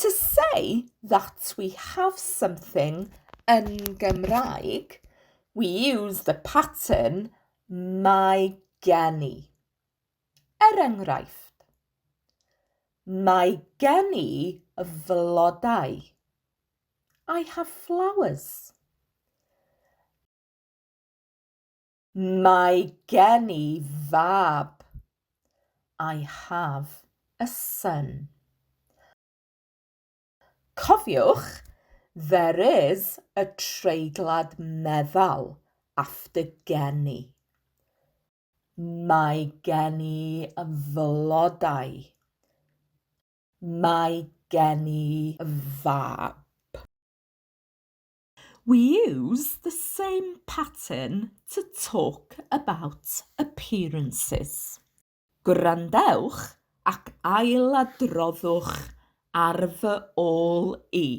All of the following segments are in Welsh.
To say that we have something yn Gymraeg, we use the pattern mae gen i. Er enghraifft, Mae gen i flodau. I have flowers. Mae gen i fab. I have a son. Cofiwch, there is a treiglad meddal after gen i. Mae gen i flodau. Mae gen i fab. We use the same pattern to talk about appearances. Gwrandewch ac ailadroddwch ar fy ôl i.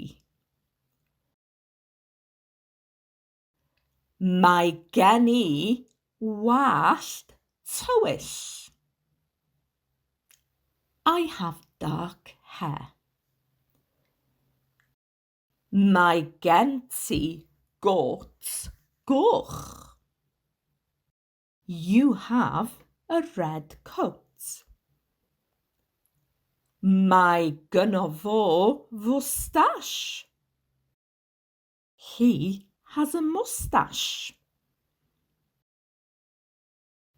Mae gen i wallt tywyll. I have dark hair. Mae gen ti gôt goch. You have a red coat. Mae gynno fo fwstash. He has a moustache.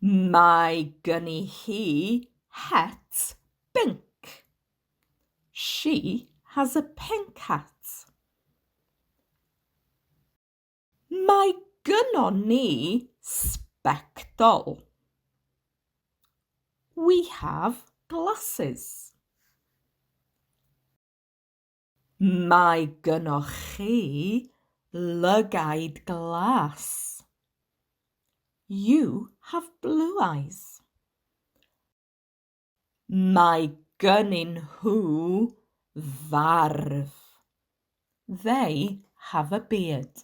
Mae gen i hi het binc. She has a pink hat. Mae gynnon ni sbectol. We have glasses. Mae gynnoch chi lygaid glas. You have blue eyes. Mae gynnyn nhw farf. They have a beard.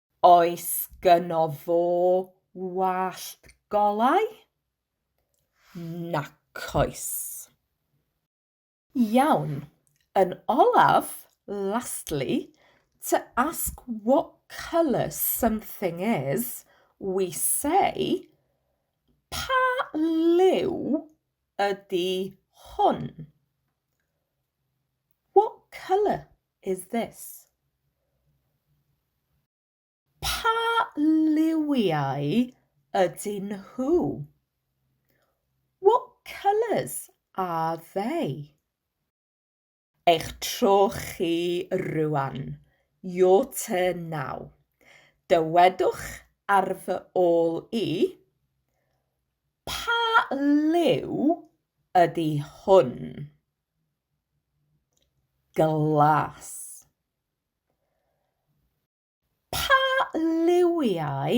Oes gynno fo wallt golau? Nac oes. Iawn. Yn olaf, lastly, to ask what colour something is, we say, Pa liw ydy hwn? What colour? is this? Pa liwiau ydyn nhw? What colours are they? Eich tro chi rŵan. Your turn now. Dywedwch ar fy ôl i, Pa liw ydy hwn? glas. Pa liwiau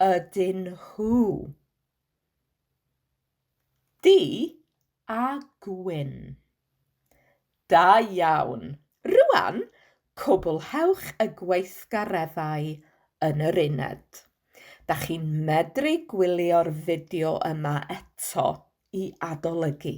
ydyn nhw? Du a gwyn. Da iawn! Rŵan, cwblhewch y gweithgareddau yn yr uned. Da chi'n medru gwylio'r fideo yma eto i adolygu.